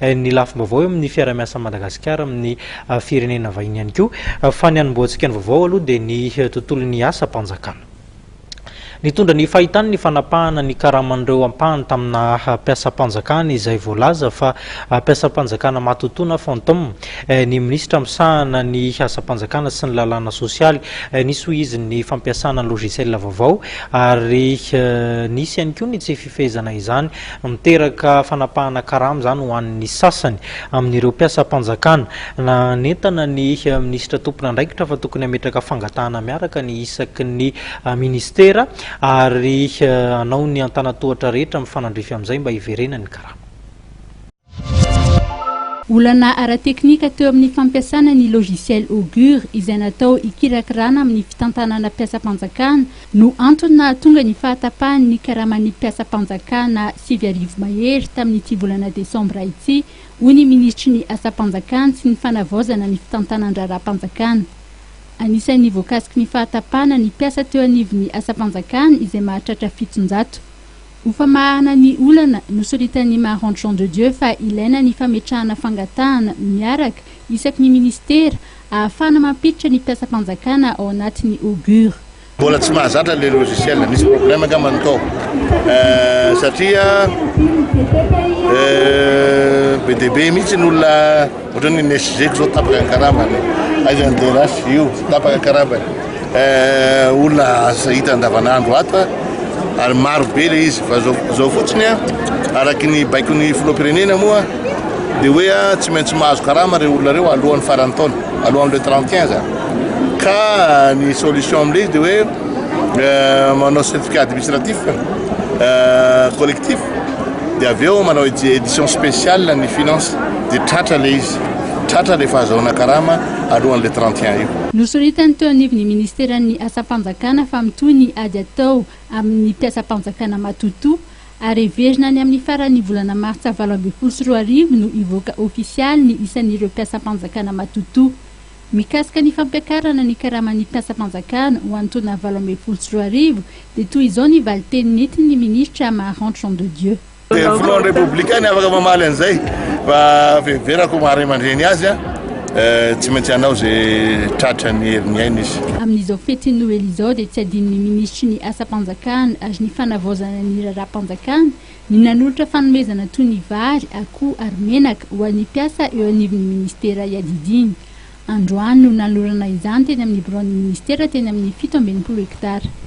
ny lafim-baovao eo amin'ny fiarahamiasan'i Madagasikara amin'ny firenena vahiny ihany koa, fa ny hanombohantsika ny vaovao aloha dia ny tontolon'ny asam-panjakana. Nitondra ny fahitany ny fanapahana ny karaman'ireo ampahany tamina mpiasam-panjakana izay voalaza fa mpiasam-panjakana matotoana, fantôme, ny minisitra misahana ny asam-panjakana sy ny lalàna sosialy. Nisy hoy izy ny fampiasana ny logiciel vaovao ary nisy ihany koa ny tsy fifehezana izany Miteraka fanapahana karama izany ho an'ny sasany amin'ireo mpiasam-panjakana. Nanentana ny minisitra tompon'andraikitra fa tokony hametraka fangatahana miaraka ny isaky ny minisitera ary hanao ny antanan-tohatra rehetra mifanandrify amin'izay mba hiverenan'ny karama. Olana ara-teknika teo amin'ny fampiasana ny logiciel Augure izay natao hikirakirana amin'ny fitantanana mpiasam-panjakana no antony nahatonga ny fahatapahan'ny karaman'ny mpiasam-panjakana sivy arivo mahery tamin'ity volana desambra ity, hoy ny minisitry ny Asam-panjakana sy ny fanavaozana ny fitantanan-draharaham-panjakana. Anisan'ny voakasiky ny fahatapahana ny mpiasa teo anivon'ny asam-panjakana izay mahatratra fitonjato. Ho famahana ny olana, nosoritan'ny Marange Jean de Dieu fa ilaina ny fametrahana fangatahana miaraka isaky ny minisitera ahafahana mampiditra ny mpiasam-panjakana ao anatin'ny Augure. Mbola tsy mahazatra le logiciel, misy problème angamba ny tao eh, satria eh, be dia be mihitsy ny olona Ohatrany ny SG ko zao tapaka ny karambany, aiza ny DRH io tapaka karambany, eh, olona aza hita andavanandro ato a, ary maro be le izy fa zao zao fotsiny a, araky ny baikon'ny filoham-pirenena moa de hoe a tsy maintsy mahazo karama reo olona reo alohan'ny faran'ny taona, alohan'ny le 31 zany, ka ny solution amle izy de hoe eh, manao certificat administratif eh, collectif dia avy eo manao édition spéciale ny finance dia tratra ilay izy, tratra ilay fahazahoana karama alohan'ilay 31 io. Nosoritany teo anivon'ny Ministeran'ny Asam-panjakana fa mitohy ny ady atao amin'ny mpiasam-panjakana matotoa ary heverina any amin'ny faran'ny volana martsa valo ambin'ny folo sy roa arivo no hivoaka ofisialy ny isan'ireo mpiasam-panjakana matotoa Mikasika ny fampiakarana ny karaman'ny mpiasam-panjakana ho an'ny taona valo ambin'ny folo sy roa arivo dia toy izao ny valin-teny nentin'ny minisitra Maharanty Jean de Dieu. Dia ny filohan'ny Repoblika no afaka mamaly an'izay fa fiheverako maha ray aman-dreny azy aho tsy maintsy hanao izay tratra ny herin'ny ainy izy. Amin'izao fetin'ny Noely izao dia tsy adinon'ny minisitry ny asam-panjakana ary ny fanavaozana ny raharaham-panjakana Ny nanolotra fanomezana toy ny vary, akoho ary menaka ho an'ny mpiasa eo anivon'ny minisitera iadidiany. Androany no nanolorana izany teny amin'ny biraon'ny minisitera teny amin'ny fito amby enimpolo hektara.